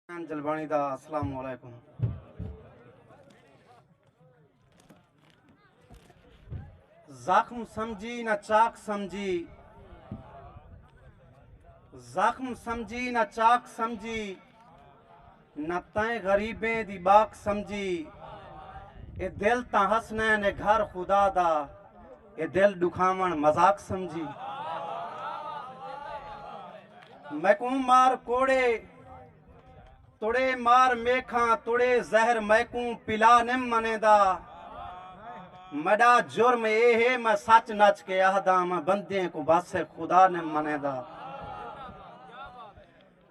حسین جلبانی دا السلام علیکم۔ زخم سمجھی نہ چاک سمجھی زخم سمجھی نہ چاک سمجھی نہ تائیں غریبیں دی باک سمجھی اے دل تاں حسنین اے گھر خدا دا اے دل ڈکھاون مذاق سمجھی۔ میکوں مار کوڑے توڑے مار میکھاں توڑے زہر میکوں پلا نیم منیندا میڈا جرم اے ہے میں سچ نچ کے اہداں میں بندیں کوں بس خدا نیم منیندا۔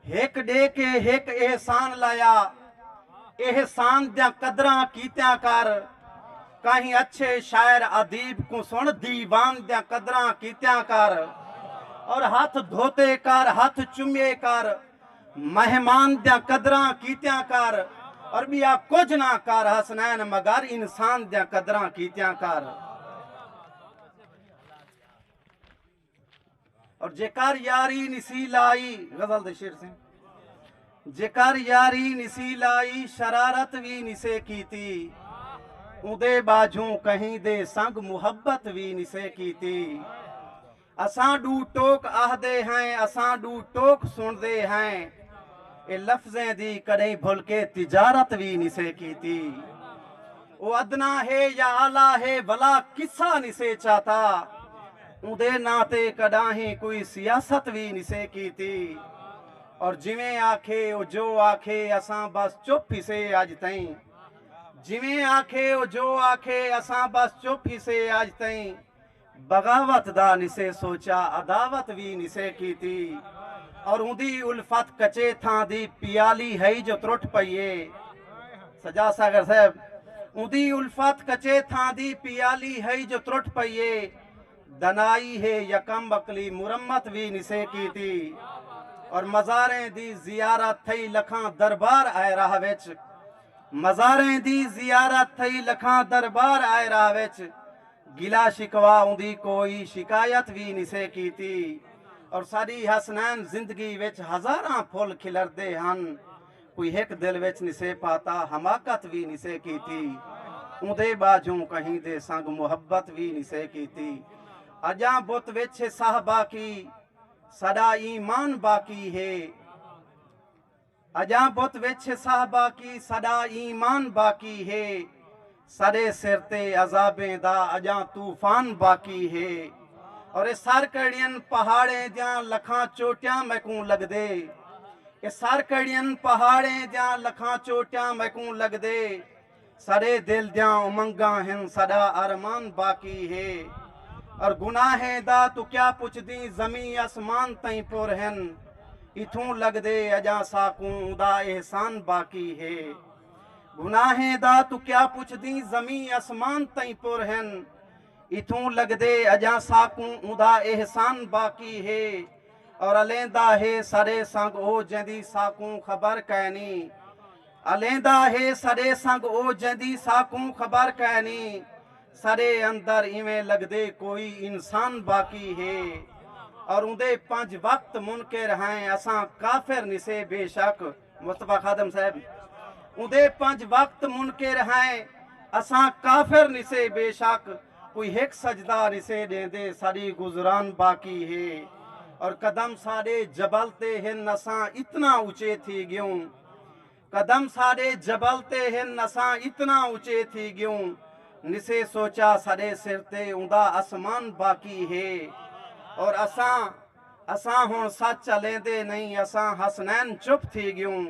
ہک ݙے کے ہک احسان لایا احسان دیاں قدراں کیتیاں کر کہیں اچھے شاعر ادیب کوں سن دیوان دیاں قدراں کیتیاں کر اور ہتھ دھوتے کر ہتھ چمیے کر مہمان دیاں قدراں کیتیاں کر اور بیا کچھ نہ کر حسنین مگر انسان دیاں قدراں کیتیاں کر اور جیکار یاری نسی لائی غزل دے شعر سے جیکار یاری نسی لائی شرارت وی نسے کیتی اودے باجوں کہیں دے سنگ محبت وی نسے کیتی اساں ڈو ٹوک آہ دے ہیں اساں ڈو ٹوک سن دے ہیں اے لفظیں دی کڑیں بھل کے تجارت وی نسے کیتی او ادنا ہے یا اعلی ہے ولا کسا نسے چاتا اوندے ناں تے کڈاہیں کوئی سیاست وی نسے کیتی اور جویں آکھے او جو آکھے اساں بس چپ ہسے اج تئیں جویں آکھے او جو آکھے اساں بس چپ ہسے اج تئیں بغاوت دا نسے سوچا عداوت وی نسے کیتی اور اوندی الفت کچے تھاں دی پیالی ہئی جو ترٹ پئی اے سجاد ساگر صاحب اوندی الفت کچے تھاں دی پیالی ہئی جو ترٹ پئی اے دنائی ہے یکم عقلی مرمت وی نسے کیتی اور مزاریں دی زیارت تھئی لکھاں دربار آئے راہ وچ مزاریں دی زیارت تھئی لکھاں دربار آئے راہ وچ گلہ شکوہ اوندی کوئی شکایت وی نسے کیتی اور ساڈی حسنین زندگی وچ ہزاراں پھل کھلردے ہن کوئی ہک دل وچ نسے پاتا حماقت وی نسے کیتی اوندے باجھوں کہیں دے سنگ محبت وی نسے کیتی اجاں بت وچ ہے ساہ باقی ساڈا ایمان باقی ہے۔ اجاں بت وچ صاحبہ کی ساڈا ایمان باقی ہے ساڈے سر تے عذابیں دا اجاں طوفان باقی ہے اور اے سر کڑین پہاڑیں دیاں لکھاں چوٹیاں میکوں لگدے اے سر کڑین پہاڑیں دیاں لکھاں چوٹیاں میکوں لگدے ساݙے دل دیاں امنگاں ہن ساݙا ارمان باقی ہے اور گناہیں دا توں کیا پچھدیں زمیں اسمان تئیں پر ہن اتھوں لڳدے اڄاں ساکوں اوندا احسان باقی ہے گناہیں دا توں کیا پچھدیں زمیں اسمان تئیں پر ہن اتھوں لڳدے اڄاں ساکوں اوندا احسان باقی ہے اور الیندا ہے ساݙے سانگ او جیندی ساکوں خبر کائنی۔ الیندا ہے ساڈے سنگ او جیندی ساکوں خبر کائنی ساڈے اندر ایویں لگدے کوئی انسان باقی ہے اور اوندے پنج وقت منکر ہیں اساں کافر نسے بے شک مصطفی خادم صاحب اوندے پنج وقت منکر ہیں اساں کافر نسے بے شک کوئی ہک سجدہ نسے ڈیندے ساڈی گزران باقی ہے اور قدم ساڈے جبل تے ہن اساں اتنا اچے تھی گیوں قدم ساڈے جبل تے ہن اساں اتنا اچے تھی گیوں نسے سوچا ساڈے سر تے اوندا اسمان باقی ہے اور اساں اساں ہن سچ الیندے نہیں اساں حسنین چپ تھی گیوں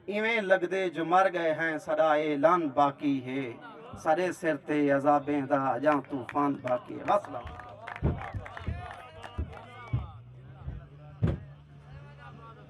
ایویں لگدے جو مر گئے ہیں ساڈا اعلان باقی ہے ساڈے سر تے عذابیں دا اجاں طوفان باقی ہے وسلام